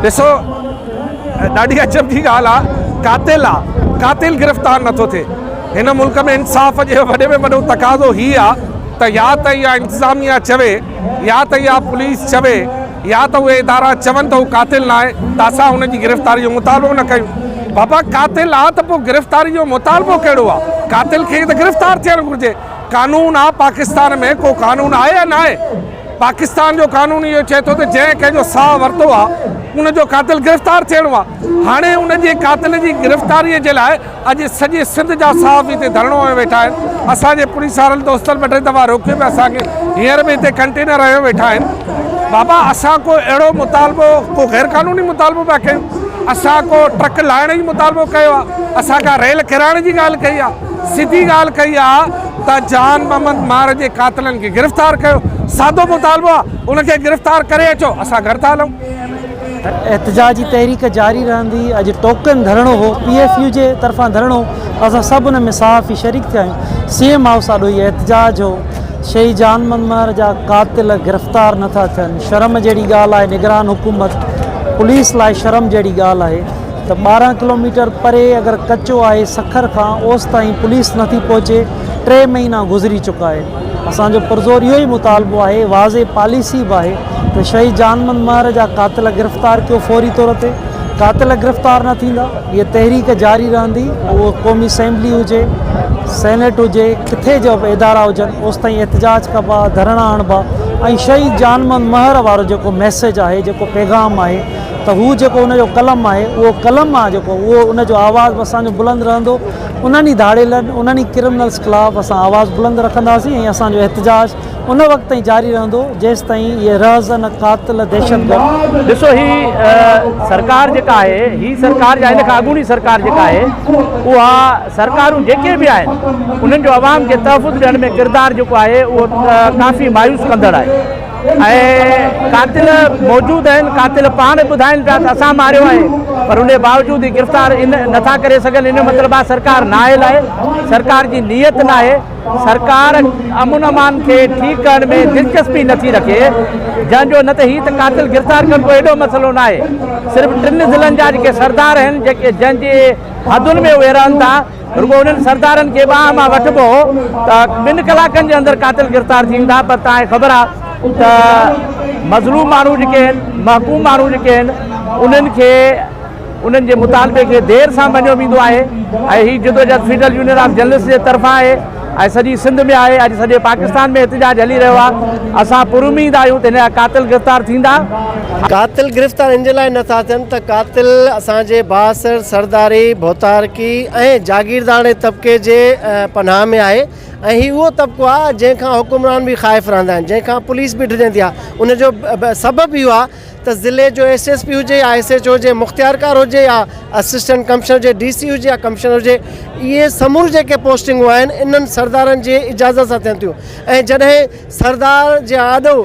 ڏسو ڏاڍي عجب جي ڳالهه آ قاتل آ قاتل گرفتار نٿو ٿئي هن ملڪ ۾ انصاف جي وڏي ۾ وڏو تقاضو هي آ ته يا ته اها انتظاميه چوي يا ته اها پوليس چوي يا ته اهي ادارا چون ته هو قاتل ناهي ته اسان هن جي گرفتاري جو مطالبو نه ڪيون بابا قاتل آ ته پو گرفتاري جو مطالبو ڪهڙو آ قاتل کي ته گرفتار ٿيڻ گهرجي قانون آ پاڪستان ۾ ڪو قانون آهي يا ناهي. پاڪستان جو قانون اهو چئي ٿو ته جنهن ڪنهن جو ساهه ورتو آهي ان جو قاتل گرفتار ٿيڻو آهي هاڻي ان جي قاتل جي گرفتاري جي لاء اڄ سڄي سنڌ جا صحافي هتي ڌرڻو هنيو ويٺا آهن اسان جي پوليس وارن دوستن ٻه ٽي دفعا روڪيو پي اسان کي هينئر به هتي ڪنٽينر هنيو ويٺا آهن بابا اسان ڪو اهڙو مطالبو ڪو غير قانوني مطالبو پيا ڪيون اسان ڪو ٽرڪ لاهڻ جي مطالبو ڪيو آهي اسان ڪا ريل ڪيرائڻ جي ڳالهه ڪئي آهي سڌي ڳالهه ڪئي آ ته جان محمد مار جي قاتلن کي گرفتار ڪيو سادو مطالبو آ ان کي گرفتار ڪري اچو اسان گهر ٿا هلون. احتجاج جي تحريڪ جاري رهندي اڄ ٽوڪن ڌرڻو هو پي ايف يو جي طرفان ڌرڻو اسان سڀ ان ۾ صحافي شريڪ ٿيا آهيون سي ايم هائوس آڏو هي احتجاج هو شهيد جان محمد مار جا قاتل گرفتار نٿا ٿين شرم جهڙي ڳالهه آهي نگران حڪومت پوليس لاء شرم جهڙي ڳالهه آهي ته ٻارهن ڪلوميٽر پري اگر ڪچو آهي سکر کان اوس تائين پوليس نٿي پهچي ٽي مهينا گذري چڪا آهن اسان جو پرزور اهو ئي مطالبو آهي واضح پاليسي به آهي ته شهيد جانمند مهر جا قاتل گرفتار ڪيو فوري طور تي قاتل گرفتار نه ٿيندا هيء تحريڪ جاري رهندي اهو قومي اسيمبلي هجي سينيٽ هجي ڪٿي جو به ادارا هجن اوس تائين احتجاج ڪبا ڌرڻا هڻبا ۽ شهيد جانمند مهر وارو جيڪو ميسيج آهي جيڪو پيغام آهي ته هو جيڪو ان جو قلم آهي، اهو قلم آ جيڪو اهو ان جو آواز به اسان جو بلند رهندو، انهن ئي ڌاڙيلن، انهن ئي ڪرمنلز خلاف اسان آواز بلند رکنداسين ۽ اسان جو احتجاج ان وقت تائين جاري رهندو جيستائين اهي رهزن، قاتل، دهشتگرد. ڏسو هي سرڪار جيڪا آهي، هي سرڪار يا هن کان اڳوڻي سرڪار جيڪا آهي، اها سرڪارون جيڪي به آهن، انهن جو عوام کي تحفظ ڏيڻ ۾ ڪردار جيڪو آهي اهو ڪافي مايوس ڪندڙ آهي. ۽ قاتل موجود آهن قاتل پاڻ ٻڌائين پيا ته اسان ماريو آهي پر ان باوجود هي گرفتار نٿا ڪري سگهن ان جو مطلب آهي سرڪار نااهل آهي سرڪار جي نيت ناهي سرڪار امن امان کي ٺيڪ ڪرڻ ۾ دلچسپي نٿي رکي جنهن جو نه ته هي ته قاتل گرفتار ڪرڻ ڪو ايڏو مسئلو ناهي صرف ٽن ضلعن جا جيڪي سردار آهن جنهن جي حدن ۾ اهي رهن ٿا رڳو انهن سردارن کي باهه مان وٺبو هو ته ٻن ڪلاڪن جي اندر قاتل گرفتار ٿي ويندا پر توهان کي خبر آهي ته مظلوم ماڻهو جيڪي آهن محڪوم ماڻهو جيڪي آهن انهن کي انهن جي مطالبي کي دير سان مڃيو ويندو آهي ۽ هي جدوجهد فيڊرل يونين آف جرنلسٽ جي طرفان آهي اڄ سڄي سنڌ ۾ آهي اڄ سڄي پاڪستان ۾ احتجاج هلي رهيو آهي اسان پر اميد آهيون ته هن جا قاتل گرفتار ٿيندا. قاتل گرفتار ان جي لاء نه ٿا ٿين ته قاتل اسان جي بااثر سرداري، ڀوتارڪي ۽ جاگيرداڻي طبقي جي پناهه ۾ آهي ۽ هي اهو طبقو آهي جنهن کان حڪمران به خائف رهندا آهن جنهن کان پوليس به ڊڄندي آهي ان جو سبب اهو آهي ته ضلعي جو ايس ايس پي هجي يا ايس ايچ او هجي مختيارڪار هجي يا اسسٽنٽ ڪمشنر هجي ڊي سي هجي يا ڪمشنر هجي اهي سموريون جيڪي پوسٽنگون آهن انهن سردارن جي اجازت سان ٿين ٿيون ۽ جڏهن سردار جي آڏو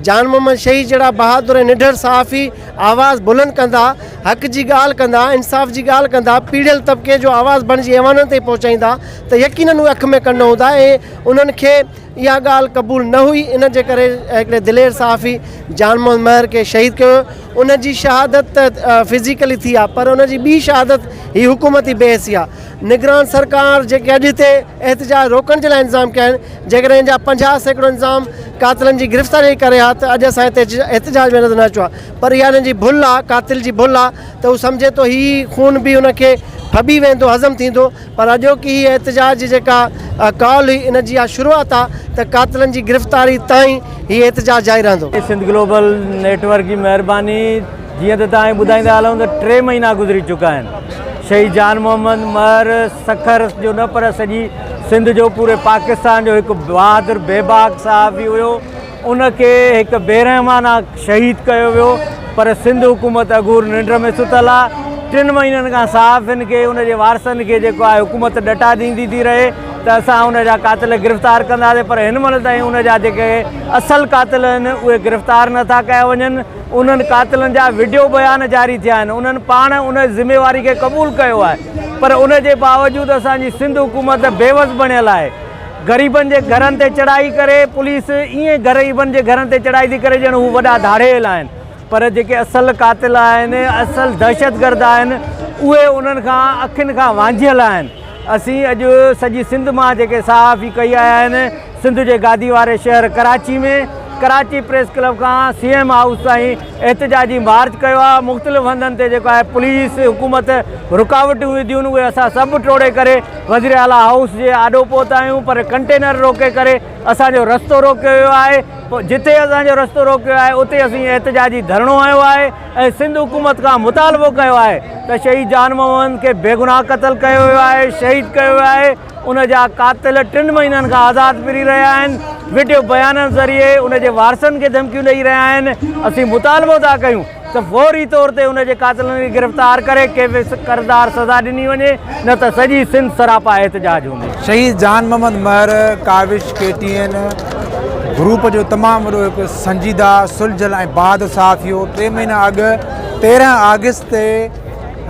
جان محمد شهيد جهڙا بهادر ۽ نڍر صحافي آواز بلند ڪندا حق جي ڳالهه ڪندا انصاف جي ڳالهه ڪندا پيڙهيل طبقي جو آواز بڻجي ايوانن تائين پهچائيندا ته يقينن اهي اک ۾ ڪنڊ هوندا ۽ انهن کي اها ڳالهه قبول نه هئي ان جي ڪري هڪڙي دلير صحافي جان محمد مهر کي شهيد ڪيو ويو ان جي شهادت ته فزيڪلي ٿي آهي پر ان جي ٻي شهادت هي حڪومتي بي حسي آهي نگران سرڪار جيڪي اڄ هتي احتجاج روڪڻ جي لاء انتظام ڪيا آهن جيڪڏهن ان جا پنجاهه سيڪڙو انتظام قاتلن جي گرفتاري جي ڪري ها ته اڄ اسان هتي احتجاج ۾ نظر نه اچو ها پر اها انهن جي ڀل آهي قاتل جي ڀل آهي ته هو سمجهي ٿو هي خون به ان کي ڦٻي ويندو هضم ٿيندو پر اڄوڪي هي احتجاج جي جيڪا ڪال هئي ان جي اها شروعات آ ته قاتلن جي گرفتاري تائين هي احتجاج جاري رهندو. سنڌ گلوبل نيٽ ورڪ جي مهرباني جيئن ته توهان کي ٻڌائيندا هلون ته ٽي مهينا گذري چڪا آهن شهيد جان محمد مهر سکر جو نه پر سڄي سنڌ جو پوري پاڪستان جو هڪ بهادر بيباڪ صحافي هيو ان کي هڪ بيرحمانه شهيد ڪيو ويو پر سنڌ حڪومت اگهور ننڊ ۾ ستل آ ٽن مهينن کان صحافين کي ان جي وارثن کي جيڪو آهي حڪومت ڏٽا ڏيندي ٿي رهي ته اسان ان جا قاتل گرفتار ڪنداسين پر هن مهل تائين ان جا جيڪي اصل قاتل آهن اهي گرفتار نٿا ڪيا وڃن انهن قاتلن جا وڊيو بيان جاري ٿيا آهن انهن پاڻ ان ذميواري کي قبول ڪيو آهي پر ان جي باوجود اسان جي سنڌ حڪومت بيوس بڻيل آهي غريبن جي گهرن تي چڙهائي ڪري پوليس ائين غريبن جي گهرن تي چڙهائي ٿي ڪري ڄڻ هو وڏا ڌاڙيل آهن پر جيڪي اصل قاتل آهن اصل دهشتگرد آهن اهي انهن کان اکين کان وانجهيل آهن اسين اڄ سڄي سنڌ مان جيڪي صحافي ڪهي آيا آهن سنڌ جي گادي واري شهر ڪراچي ۾ ڪراچي پريس ڪلب کان سي ايم هائوس تائين احتجاجي مارچ ڪيو آهي مختلف هنڌن تي جيڪو آهي پوليس حڪومت رڪاوٽون وڌيون اهي اسان سڀ ٽوڙي ڪري وزير اعليٰ هائوس جي آڏو پهتا آهيون پر ڪنٽينر روڪي ڪري اسان جو رستو روڪيو ويو آهي جتي اسان جو رستو روڪيو ويو آهي اتي اسين احتجاجي ڌرڻو هنيو آهي ۽ سنڌ حڪومت کان مطالبو ڪيو آهي ته شهيد جان محمد کي بيگناهه قتل ڪيو ويو آهي شهيد ڪيو ويو آهي ان جا قاتل ٽن مهينن کان آزاد ڦري رهيا آهن، وڊيو بيانن ذريعي ان جي وارثن کي ڌمڪيون ڏئي رهيا آهن، اسين مطالبو ٿا ڪيون ته فوري طور تي ان جي قاتلن کي گرفتار ڪري کيس ڪردار سزا ڏني وڃي نه ته سڄي سنڌ سراپا احتجاج هوندي. شهيد Jan Muhammad Mehar Kawish K T N group جو تمام وڏو هڪ سنجيده، سلجهيل ۽ بهادر صحافي هو، ٽي مهينا اڳ تيرنهن آگسٽ تي،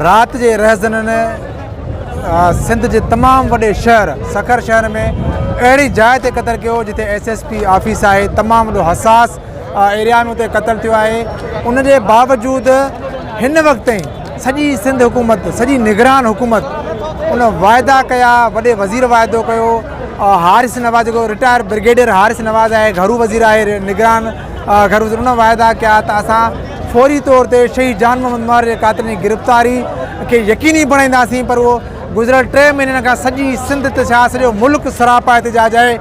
رات جي رهزنن سنڌ جي تمام وڏي شهر سکر شهر ۾ اهڙي جاء تي قتل ڪيو جتي ايس ايس پي آفيس آهي تمام وڏو حساس ايريا ۾ اتي قتل ٿيو آهي ان جي باوجود هن وقت تائين سڄي سنڌ حڪومت سڄي نگران حڪومت ان واعدا ڪيا وڏي وزير واعدو ڪيو هارس نواز جيڪو رٽائر برگيڊيئر هارس نواز آهي گهرو وزير آهي نگران اگر حضور نه واعدا ڪيا ته اسان فوري طور تي شهيد جان محمد مهر جي قاتلن جي گرفتاري کي يقيني بڻائينداسين پر اهو گذريل ٽي مهينن کان سڄي سنڌ ته ڇا سڄو ملڪ سراپا احتجاج آهي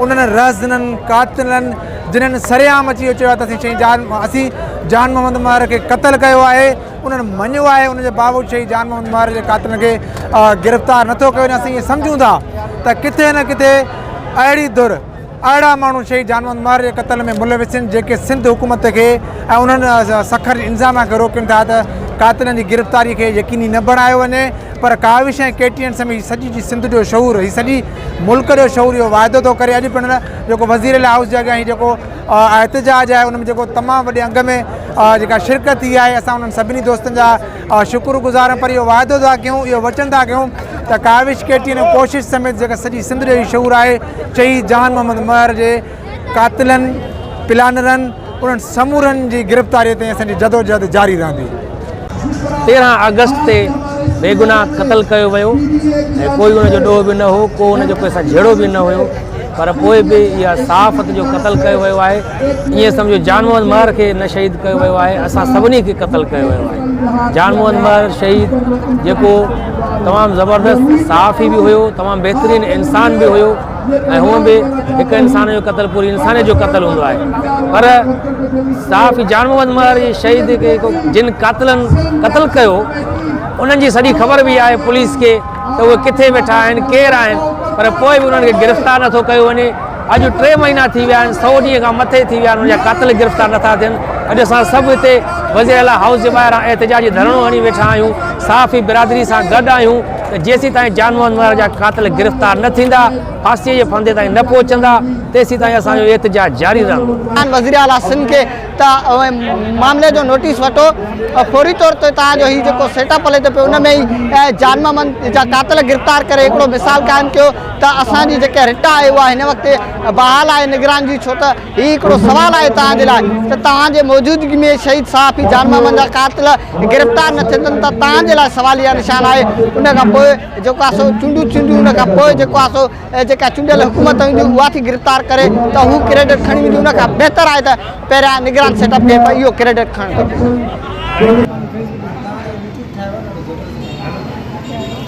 انهن رهزنن قاتلن جنهن سرعام اچي اهو چيو آهي ته اسين شهيد جان اسين جان محمد مهر کي قتل ڪيو آهي انهن مڃيو آهي ان جي باوجود شهيد جان محمد مهر جي قاتلن کي گرفتار نٿو ڪيو وڃي اسين اهو سمجهون ٿا ته ڪٿي نه ڪٿي اهڙي ڌر اهڙا ماڻهو شهيد جانوند مهر جي قتل ۾ ملوث آهن جيڪي سنڌ حڪومت کي ۽ انهن سکر جي انظاميا کي روڪين ٿا ته قاتلن جي گرفتاري کي يقيني نه بڻايو وڃي پر ڪاوش ۽ ڪي ٽي اين سميت هي سڄي جي سنڌ جو شعور هي سڄي ملڪ جو شعور اهو واعدو ٿو ڪري اڄ پڻ جيڪو وزير اعليٰ هائوس جي اڳيان هي جيڪو احتجاج آهي ان ۾ جيڪو تمام وڏي انگ ۾ جيڪا شرڪت ٿي آهي اسان انهن سڀني دوستن جا شڪر گذار پر اهو واعدو ٿا ڪيون اهو وچن ٿا ڪيون ته ڪاوش ڪي ٽي اين ۽ ڪوشش سميت جيڪا سڄي سنڌ جو هي شعور آهي چئي جهان محمد مهر جي قاتلن پلانرن انهن سمورن جي گرفتاري تائين اسان جي جدوجهد جاري رهندي. تيرهن آگسٽ تي بيگناهه قتل ڪيو ويو ۽ ڪوئي ان جو ڏوهه به نه هو ڪو ان جو ڪنهن سان جهيڙو به نه هيو پر پوء به اها صحافت جو قتل ڪيو ويو آهي. ائين سمجهو جان محمد مهر کي نه شهيد ڪيو ويو آهي اسان سڀني کي قتل ڪيو ويو آهي جان محمد مهر شهيد جيڪو تمام زبردست صحافي به هيو تمام بهترين انسان به هيو ۽ هو به هڪ انسان جو قتل پوري انسانيت جو قتل هوندو آهي پر صحافي جان محمد مهر جي شهيد کي جن قاتلن قتل ڪيو انهن جي سڄي خبر به آهي پوليس کي ته اهي ڪٿي ويٺا آهن ڪير آهن پر پوء به انهن کي گرفتار نٿو ڪيو وڃي اڄ ٽي مهينا ٿي ويا آهن سؤ ڏينهن کان مٿي ٿي ويا آهن ان جا قاتل گرفتار نٿا ٿين اڄ اسان سڀ هتي وزير اعليٰ هائوس جي ٻاهران احتجاجي ڌرڻو هڻي ويٺا آهيون صحافي برادري سان گڏ آهيون ته جيسين تائين جان محمد مهر جا قاتل گرفتار نه ٿيندا ڦاسي جي ڦندي تائين نه پهچندا تيسين تائين اسان جو احتجاج جاري رهندو وزير اعليٰ سنڌ کي ته معاملي جو نوٽيس وٺو فوري طور تي تان جو هي جيڪو سيٽ اپ هلي ٿو پيو ان ۾ جان محمد جا قاتل گرفتار ڪري هڪڙو مثال قائم ڪيو ته اسان جي جيڪا رٽ آهي اها هن وقت بحال آهي نگران جي ڇو ته هي هڪڙو سوال آهي توهان جي لاء ته توهان جي موجودگي ۾ شهيد صحافي جان محمد جا قاتل گرفتار نه ٿيندن ته توهان جي لاء سواليه نشان آهي ان کان پوء جيڪو آهي سو چونڊون ٿينديون ان کان پوء جيڪو آهي سو جيڪا چونڊيل حڪومت هوندي اها ٿي گرفتار ڪري ته هو ڪريڊٽ کڻي ويندي ان کان بهتر آهي ته پهريان نگران سيٽ اپ کي اهو ڪريڊٽ کڻڻ گهرجي.